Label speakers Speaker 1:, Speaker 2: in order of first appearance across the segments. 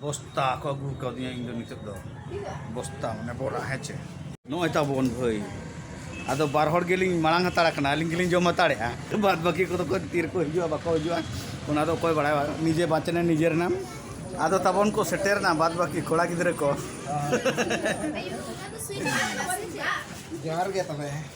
Speaker 1: ᱵᱚᱥᱛᱟ ᱠᱚ ᱟᱹᱜᱩ ᱠᱟᱣᱫᱤᱧᱟ ᱤᱧ ᱫᱚ ᱱᱤᱛᱚᱜ ᱫᱚ ᱵᱚᱥᱛᱟ ᱢᱟᱱᱮ ᱵᱚᱨᱟ ᱦᱮᱸ ᱪᱮ ᱱᱚᱜᱼᱚᱭ ᱛᱟᱵᱚᱱ ᱵᱷᱟᱹᱭ ᱟᱫᱚ ᱵᱟᱨ ᱦᱚᱲ ᱜᱮᱞᱤᱧ ᱢᱟᱲᱟᱝ ᱦᱟᱛᱟᱲ ᱟᱠᱟᱱᱟ ᱟᱹᱞᱤᱧ ᱜᱮᱞᱤᱧ ᱡᱚᱢ ᱦᱟᱛᱟᱲᱮᱜᱼᱟ ᱵᱟᱫ ᱵᱟᱹᱠᱤ ᱠᱚᱫᱚ ᱠᱚ ᱛᱤ ᱨᱮᱠᱚ ᱦᱤᱡᱩᱜᱼᱟ ᱵᱟᱠᱚ ᱦᱤᱡᱩᱜᱼᱟ ᱚᱱᱟ ᱫᱚ ᱚᱠᱚᱭ ᱵᱟᱲᱟᱭᱟ ᱱᱤᱡᱮ ᱵᱟᱸᱪᱱᱮ ᱱᱤᱡᱮ ᱨᱮᱱᱟᱢ ᱟᱫᱚ ᱛᱟᱵᱚᱱ ᱠᱚ ᱥᱮᱴᱮᱨᱱᱟ ᱵᱟᱫ ᱵᱟᱹᱠᱤ ᱠᱚᱲᱟ ᱜᱤᱫᱽᱨᱟᱹ ᱠᱚ ᱡᱚᱦᱟᱨ ᱜᱮ
Speaker 2: ᱛᱚᱵᱮ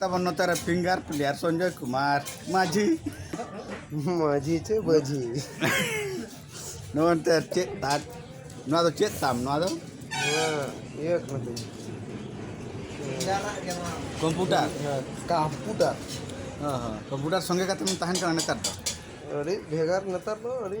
Speaker 1: ᱛᱟᱵᱚᱱ ᱱᱚᱛᱮ ᱨᱮ ᱯᱷᱤᱝᱜᱟᱨ ᱯᱞᱮᱭᱟᱨ ᱥᱚᱧᱡᱚᱭ ᱠᱩᱢᱟᱨ ᱢᱟᱹᱡᱷᱤ
Speaker 2: ᱢᱟᱹᱡᱷᱤ ᱪᱮ ᱵᱟᱹᱡᱷᱤ ᱱᱚᱱᱛᱮ
Speaker 1: ᱪᱮᱫ ᱛᱟᱢ ᱱᱚᱣᱟ ᱫᱚ ᱪᱮᱫ ᱛᱟᱢ ᱱᱚᱣᱟ ᱫᱚ ᱤᱭᱟᱹ
Speaker 2: ᱠᱟᱱᱟ ᱛᱤᱧ
Speaker 1: ᱠᱚᱢᱯᱩᱴᱟᱨ ᱠᱚᱢᱯᱩᱴᱟᱨ
Speaker 2: ᱦᱮᱸ
Speaker 1: ᱦᱮᱸ ᱠᱚᱢᱯᱩᱴᱟᱨ ᱥᱚᱸᱜᱮ ᱠᱟᱛᱮᱢ ᱛᱟᱦᱮᱱ ᱠᱟᱱᱟ ᱱᱮᱛᱟᱨ ᱫᱚ ᱟᱹᱰᱤ ᱵᱷᱮᱜᱟᱨ
Speaker 2: ᱱᱮᱛᱟᱨ ᱫᱚ ᱟᱹᱰᱤ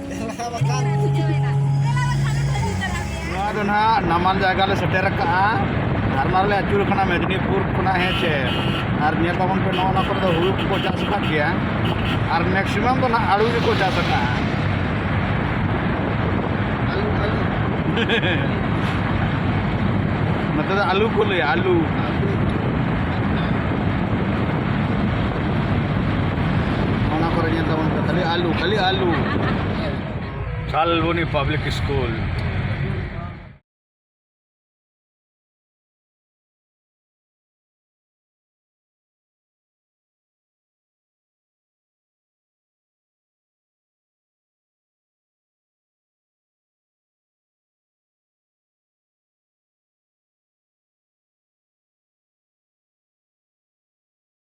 Speaker 1: ᱱᱟᱢᱟᱞ ᱡᱟᱭᱜᱟ ᱞᱮ ᱥᱮᱴᱮᱨ ᱟᱠᱟᱫᱼᱟ ᱫᱷᱟᱨᱢᱟ ᱨᱮᱞᱮ ᱟᱹᱪᱩᱨ ᱟᱠᱟᱱᱟ ᱢᱮᱫᱽᱱᱤᱯᱩᱨ ᱠᱷᱚᱱᱟᱜ ᱦᱮᱸ ᱪᱮ ᱟᱨ ᱧᱮᱞ ᱛᱟᱵᱚᱱ ᱯᱮ ᱱᱚᱜᱼᱚ ᱱᱚᱣᱟ ᱠᱚᱨᱮ ᱫᱚ ᱦᱩᱲᱩ ᱠᱚᱠᱚ ᱪᱟᱥ ᱟᱠᱟᱫ ᱜᱮᱭᱟ ᱟᱨ ᱢᱮᱠᱥᱤᱢᱟᱢ ᱫᱚ ᱱᱟᱦᱟᱜ ᱟᱹᱞᱩ ᱜᱮᱠᱚ ᱪᱟᱥ ᱟᱠᱟᱫᱼᱟ ᱱᱚᱛᱮ ᱫᱚ ᱟᱹᱞᱩ ᱠᱚ ᱞᱟᱹᱭᱟ ᱟᱹᱞᱩ ᱚᱱᱟ ᱠᱚᱨᱮ ᱧᱮᱞ ᱛᱟᱵᱚᱱ ᱯᱮ ᱠᱷᱟᱹᱞᱤ ᱟᱞᱩ ᱠᱷᱟᱹᱞᱤ ᱟᱞᱩ ᱠᱟᱞᱵᱚᱱᱤ ᱯᱟᱵᱽᱞᱤᱠ ᱥᱠᱩᱞ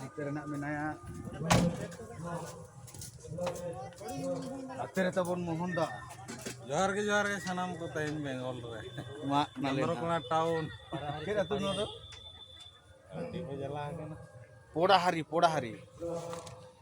Speaker 1: ᱦᱟᱛᱮ ᱨᱮᱱᱟᱜ ᱢᱮᱱᱟᱭᱟ ᱦᱟᱛᱮ ᱨᱮ ᱛᱟᱵᱚᱱ ᱢᱳᱦᱚᱱ ᱫᱟ ᱡᱚᱦᱟᱨ ᱜᱮ
Speaker 3: ᱡᱚᱦᱟᱨ ᱜᱮ ᱥᱟᱱᱟᱢ ᱠᱚ ᱛᱮᱦᱮᱧ ᱵᱮᱝᱜᱚᱞ ᱨᱮ ᱢᱟᱜ ᱱᱟᱞᱮ
Speaker 1: ᱪᱚᱱᱫᱨᱚᱠᱳᱱᱟ ᱴᱟᱣᱩᱱ
Speaker 3: ᱪᱮᱫ ᱟᱹᱛᱩ ᱱᱚᱣᱟ
Speaker 1: ᱫᱚ
Speaker 3: ᱟᱹᱰᱤ ᱠᱚ ᱡᱟᱞᱟ ᱟᱠᱟᱱᱟ ᱯᱚᱲᱟᱦᱟᱨᱤ
Speaker 1: ᱯᱚᱲᱟᱦᱟᱨᱤ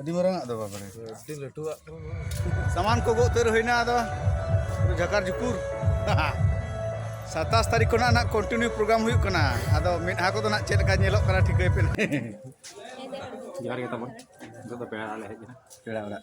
Speaker 1: ᱟᱹᱰᱤ ᱢᱟᱨᱟᱝ ᱟᱜ ᱫᱚ ᱵᱟᱵᱟᱨᱮ ᱟᱹᱰᱤ ᱞᱟᱹᱴᱩᱣᱟᱜ ᱥᱟᱢᱟᱱ ᱠᱚ ᱜᱚᱜ ᱩᱛᱟᱹᱨ ᱦᱩᱭᱱᱟ ᱟᱫᱚ ᱡᱷᱟᱠᱟᱨ ᱡᱷᱩᱠᱩᱨ ᱥᱟᱛᱟᱥ ᱛᱟᱹᱨᱤᱠᱷ ᱠᱷᱚᱱᱟᱜ ᱱᱟᱜ ᱠᱚᱱᱴᱤᱱᱤᱭᱩ ᱯᱨᱳᱜᱨᱟᱢ ᱦᱩᱭᱩᱜ ᱠᱟᱱᱟ ᱟᱫᱚ ᱢᱮᱫᱦᱟ ᱠᱚᱫᱚ ᱱᱟᱜ ᱪᱮᱫ ᱞᱮᱠᱟ ᱧᱮᱞᱚᱜ ᱠᱟᱱᱟ ᱴᱷᱤᱠᱟᱹᱭ ᱯᱮ ᱡᱚᱦᱟᱨ ᱜᱮ ᱛᱟᱵᱚᱱ
Speaker 4: ᱱᱤᱛᱚᱜ ᱫᱚ ᱯᱮᱲᱟ ᱚᱲᱟᱜ ᱞᱮ ᱦᱮᱡ ᱮᱱᱟ ᱯᱮᱲᱟ ᱚᱲᱟᱜ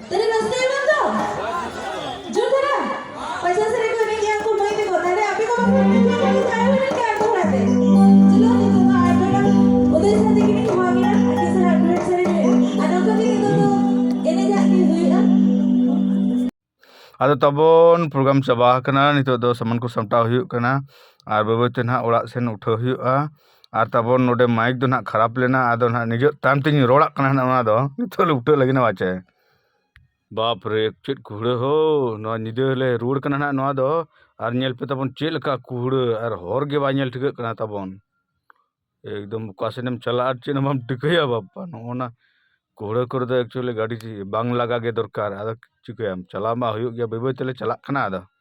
Speaker 1: ᱟᱫᱚ ᱛᱟᱵᱚᱱ ᱯᱨᱳᱜᱨᱟᱢ ᱪᱟᱵᱟ ᱟᱠᱟᱱᱟ ᱱᱤᱛᱚᱜ ᱫᱚ ᱥᱟᱢᱟᱱ ᱠᱚ ᱥᱟᱢᱴᱟᱣ ᱦᱩᱭᱩᱜ ᱠᱟᱱᱟ ᱟᱨ ᱵᱟᱹᱭ ᱵᱟᱹᱭ ᱛᱮ ᱱᱟᱦᱟᱜ ᱚᱲᱟᱜ ᱥᱮᱱ ᱩᱴᱷᱟᱹᱣ ᱦᱩᱭᱩᱜᱼᱟ ᱟᱨ ᱛᱟᱨᱯᱚᱨ ᱱᱚᱰᱮ ᱢᱟᱭᱤᱠ ᱫᱚ ᱦᱟᱸᱜ ᱠᱷᱟᱨᱟᱯ ᱞᱮᱱᱟ ᱟᱫᱚ ᱦᱟᱸᱜ ᱱᱤᱡᱮᱨ ᱛᱟᱭᱚᱢ ᱛᱤᱧ ᱨᱚᱲᱟᱜ ᱠᱟᱱᱟ ᱦᱟᱸᱜ ᱚᱱᱟ ᱫᱚ ᱱᱤᱛᱚᱜ ᱞᱮ ᱩᱞᱴᱟᱹᱣ ᱞᱟᱹᱜᱤᱫ ᱵᱟ ᱪᱮ ᱵᱟᱯᱨᱮ ᱪᱮᱫ ᱠᱩᱦᱲᱟᱹ ᱦᱳ ᱱᱚᱣᱟ ᱧᱤᱫᱟᱹ ᱦᱚᱸᱞᱮ ᱨᱩᱣᱟᱹᱲ ᱠᱟᱱᱟ ᱦᱟᱸᱜ ᱱᱚᱣᱟ ᱫᱚ ᱟᱨ ᱧᱮᱞ ᱯᱮ ᱛᱟᱵᱚᱱ ᱪᱮᱫ ᱞᱮᱠᱟ ᱠᱩᱦᱲᱟᱹ ᱟᱨ ᱦᱚᱨ ᱜᱮ ᱵᱟᱭ ᱧᱮᱞ ᱴᱷᱤᱠᱟᱹᱜ ᱠᱟᱱᱟ ᱛᱟᱵᱚᱱ ᱮᱠᱫᱚᱢ ᱚᱠᱟ ᱥᱮᱫ ᱮᱢ ᱪᱟᱞᱟᱜᱼᱟ ᱟᱨ ᱪᱮᱫ ᱦᱚᱸ ᱵᱟᱢ ᱴᱷᱤᱠᱟᱹᱭᱟ ᱵᱟᱯᱯᱟ ᱱᱚᱜᱼᱚ ᱱᱟ ᱠᱩᱦᱲᱟᱹ ᱠᱚᱨᱮ ᱫᱚ ᱮᱠᱪᱩᱭᱮᱞᱤ ᱜᱟᱹᱰᱤ ᱵᱟᱝ ᱞᱟᱜᱟ ᱜᱮ ᱫᱚᱨᱠᱟᱨ ᱟᱫᱚ ᱪᱤᱠᱟᱹᱭᱟᱢ ᱪᱟᱞᱟᱣ ᱢᱟ ᱦᱩᱭᱩᱜ ᱜᱮᱭᱟ ᱵᱟᱹᱭ ᱵᱟᱹᱭ ᱛᱮᱞᱮ ᱪᱟᱞᱟᱜ ᱠᱟᱱᱟ ᱟᱫᱚ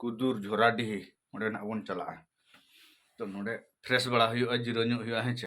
Speaker 1: ᱠᱩᱫᱩᱨ ᱡᱷᱚᱨᱟᱰᱤᱦᱤ ᱚᱸᱰᱮ ᱱᱟᱜ ᱵᱚᱱ ᱪᱟᱞᱟᱜᱼᱟ ᱛᱚ ᱱᱚᱸᱰᱮ ᱯᱷᱨᱮᱥ ᱵᱟᱲᱟ ᱦᱩᱭᱩᱜᱼᱟ ᱡᱤᱨᱟᱹᱣ ᱧᱚᱜ ᱦᱩᱭᱩᱜᱼᱟ ᱦᱮᱸ ᱪᱮ